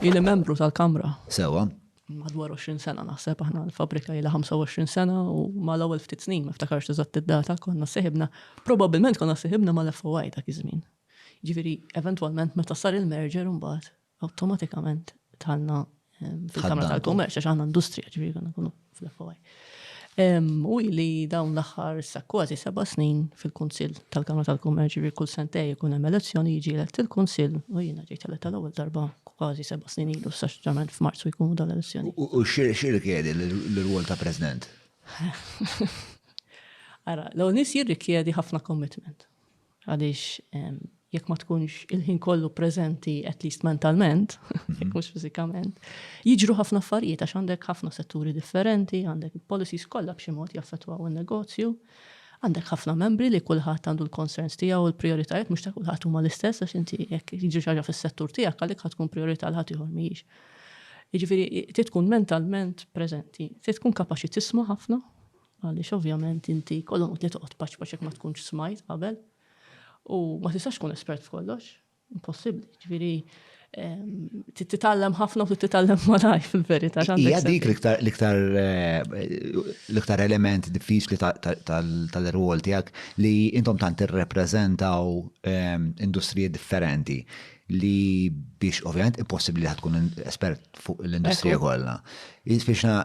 Ili membru tal-Kamra. Sewa. Madwar 20 sena naħseb aħna l-fabrika ilha 25 sena u mal-ewwel ftit snin ma ftakarx eżatt id-data konna seħibna, probabbilment konna seħibna mal-FOI dak iż-żmien. Ġifieri eventwalment meta sar il-merger imbagħad awtomatikament dħalna fil-Kamra tal-Kummerċ għax aħna industrija ġifieri konna nkunu U hi li dawn l-aħħar issa kważi seba' snin fil-Kunsill tal-Kamra tal-Kummerċ ġifieri kull sentejn ikun hemm elezzjoni jiġi elett il-Kunsill u jiena ġejt elett għall-ewwel darba kważi seba' snin ilu issa ġeneralment f'Marzu jkunu dawn l-elezzjoni. U x'irrikjedi l-irwol ta' President? Ara, l-ewwel nies jirrikjedi ħafna commitment. Għaliex jekk ma tkunx il-ħin kollu preżenti at least mentalment, mhm. jekk mhux fiżikament, jiġru ħafna affarijiet għax għandek ħafna setturi differenti, għandek policies kollha b'xi mod jaffettwaw in-negozju, għandek ħafna membri li kulħadd għandu l-concerns tiegħu l prioritajiet mhux ta' kulħadd huma l-istess għax inti jekk jiġri ħaġa fis-settur tiegħek għalik ħad tkun priorità l ħadd ieħor mhijiex. Jiġifieri trid tkun mentalment preżenti, trid tkun kapaċi tisma' ħafna, Għaliex ovvjament inti jkollhom utli toqgħod paċpaċ jekk ma tkunx smajt qabel u ma tistax tkun espert f'kollox. Impossibbli. Ġifieri titgħallem ħafna u titgħallem malaj fil-verità. Hija dik l-iktar l-iktar element diffiċli tal-irwol tiegħek li intom tant tirrepreżentaw industriji differenti li biex ovvjament impossibbli li tkun espert fuq l-industrija kollha. Jispiċna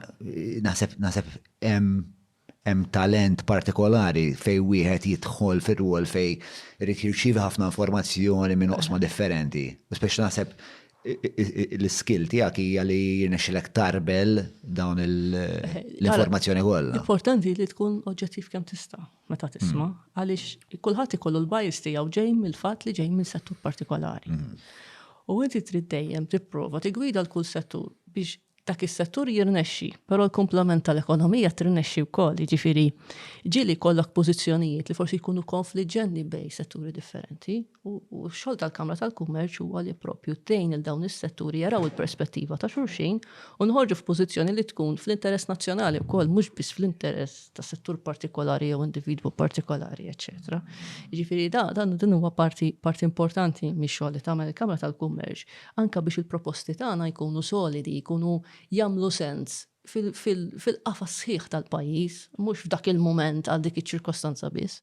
naħseb Hemm hemm talent partikolari fejn wieħed jidħol fir-rwol fejn irid jirċievi ħafna informazzjoni minn oqsma differenti. U speċi naħseb l-iskill tiegħek hija li jirnexxilek tarbel dawn l-informazzjoni kollha. Importanti li tkun oġġettiv kemm tista' meta tisma' mm. għaliex kulħadd ikollu l-bias tiegħu ġej mill-fatt li ġej minn settur partikolari. Mm. U inti trid dejjem tipprova tigwida l-kull settur biex dak is-settur jirnexxi, però l-kumplament tal-ekonomija tirnexxi wkoll, jiġifieri ġieli jkollok pożizzjonijiet li forsi jkunu konfliġġenti bejn setturi differenti u x-xogħol tal-Kamra tal-Kummerċ huwa li proprju tgħin lil dawn is-setturi jaraw il-perspettiva ta' xulxin u noħorġu f'pożizzjoni li tkun fl-interess nazzjonali wkoll mhux biss fl-interess ta' settur partikolari jew individwu partikolari, eċċetera. Jiġifieri dan huwa parti importanti mix-xogħol li tagħmel il-Kamra tal-Kummerċ anke biex il-proposti tagħna jkunu solidi, jkunu jagħmlu sens fil-qafas sħiħ tal-pajjiż, mhux f'dak il-mument għal dik iċ-ċirkostanza biss.